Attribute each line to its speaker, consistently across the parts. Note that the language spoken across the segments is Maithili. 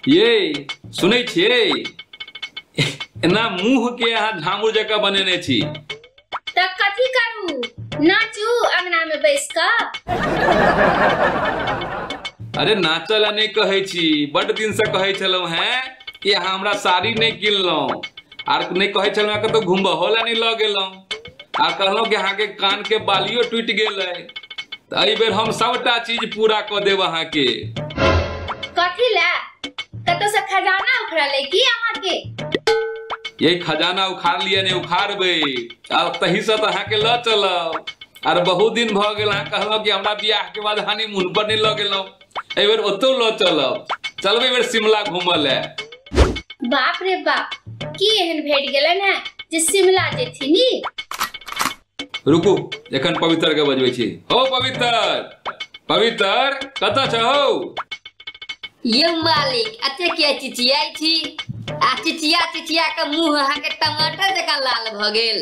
Speaker 1: ये सुनै छियै एना मुंह के अहाँ झामुर जकाँ बनेने छी तऽ कथी करू नाचू अंगना में बैस कऽ अरे नाचल ला नहि कहै छी बड दिन से कहै छलहुँ हैं कि अहाँ हमरा साड़ी नहि किनलहुँ आर नहि कहै छलहुँ हैं कतौ घुमबहो ला नहि लऽ गेलहुँ आ कहलहुँ कि अहाँके कानके बालियो टूटि गेल अइ तऽ एहि बेर हम सभटा चीज पूरा कऽ देब अहाँके कथी लए कतौ से खजाना उखड़ा ले की अहाँ के यही खजाना उखाड़ लिया ने उखाड़बै आ तही से तऽ अहाँके लऽ चलब आर बहुत दिन भऽ गेल अहाँ कहलहुँ कि हमरा बियाह के बाद हनीमून पर नहि लऽ गेलहुँ एहि बेर ओतौ लऽ चलब चलब एहि बेर शिमला घूमऽ ले बाप रे बाप की एहन भेट गेलन है जे शिमला जेथिनी रुकू एखन पवित्र के बजबै छी हो पवित्र पवित्र कतऽ छ हौ यौ मालिक अते के चिचियाइ छी आ चिचिया चिचिया के मुंह अहाँ के टमाटर जकाँ लाल भ गेल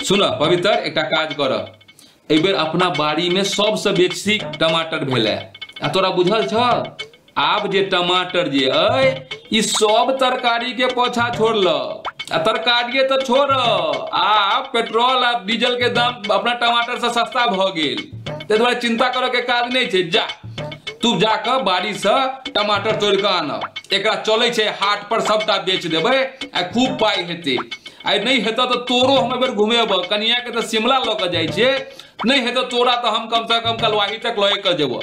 Speaker 1: सुनह पवित्र एकटा काज करऽ एहि बेर अपना बाड़ी में सबसे बेसी टमाटर भेलै आ तोरा बुझल छ आब जे टमाटर जे अय ई सब तरकारी के पोछा छोड़ल आ तरकारिये तऽ छोड़ आ पेट्रोल आ डीजल के दाम अपना टमाटर से सस्ता भऽ गेल ताहि दुआरे चिंता करऽ के काज नहि छै जा तू जाकऽ बाड़ी से टमाटर तोड़ि कऽ आनऽ एकरा चलै छै हाट पर सबटा बेच देबै आ खूब पाइ हेतै आइ नहि हेतऽ तऽ तोरो हम एहि बेर घुमेब कनिया के तऽ शिमला लऽ कऽ जाइ छियै नहि हेतऽ तोरा तऽ हम कम से कम कलवाही तक लए कऽ जेबो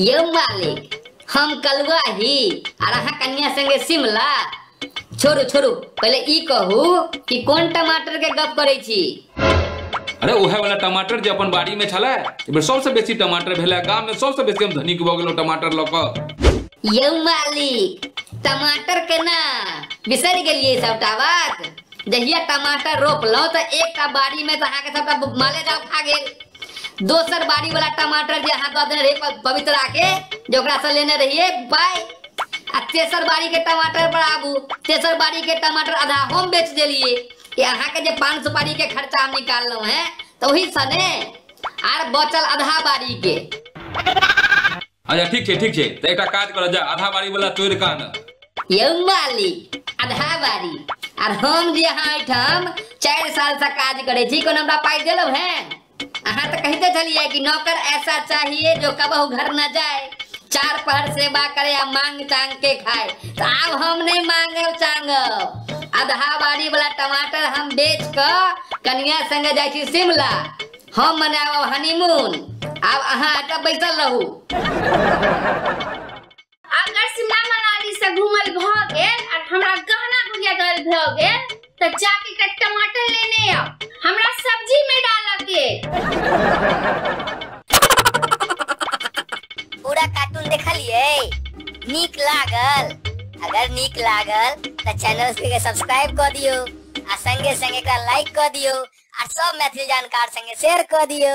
Speaker 1: यौ मालिक हम कलुआ ही आर अहाँ कन्या संगे शिमला छोड़ू छोड़ू पहिले ई कहू कि कोन टमाटर के गप करै छी अरे उहे वाला टमाटर जे अपन बाड़ी में छले एहि बेर सबसे बेसी टमाटर भेले गाम में सबसे बेसी हम धनिक भऽ गेलहुँ टमाटर लऽ कऽ यौ मालिक टमाटर के ना बिसरि गेलियै सबटा बात जहिया टमाटर रोपलहुँ तऽ एकटा बाड़ी में तऽ अहाँके सबटा माले जाउ खा गेल दोसर बाड़ी वाला टमाटर जे अहाँ दऽ देने रहियै प- पवित्रा के जे ओकरा से लेने रहियै पाइ आ तेसर बाड़ी के टमाटर पर आबू तेसर बाड़ी के टमाटर आधा हम बेच देलियै कि अहाँके जे पान सुपारी के खर्चा हम निकाललहुँ हैं तऽ ओही सने आर बचल आधा बारी के अच्छा ठीक छै ठीक छै तऽ एकटा काज करऽ जा आधा बारी वाला तोड़ि कऽ आनऽ यौ मालिक आधा बारी आर हम जे अहाँ एहिठाम चारि साल से काज करै छी कोनो हमरा पाइ देलहुँ हैं अहाँ तऽ कहिते छलियै कि नौकर ऐसा चाहिए जो कबहू घर न जाए चार पहर सेवा करे आ मांग चांग के खाए तो आब हम नहीं मांगे चांग आधा बाड़ी वाला टमाटर हम बेच क कनिया संगे जाय छी शिमला हम मनाओ हनीमून आब अहाँ आटा बैसल रहू अगर शिमला मनाली से घूमल भ गेल और हमरा गहना गुड़िया दल भ गेल त जाके एकटा टमाटर लेने आओ हमरा सब्जी में डालऽ के पूरा कार्टून देखलिए नीक लागल अगर नीक लागल त चैनल के सब्सक्राइब क दियो आ संगे संगे एकरा लाइक क दियो आ सब मैथिली जानकार संगे शेयर क दियो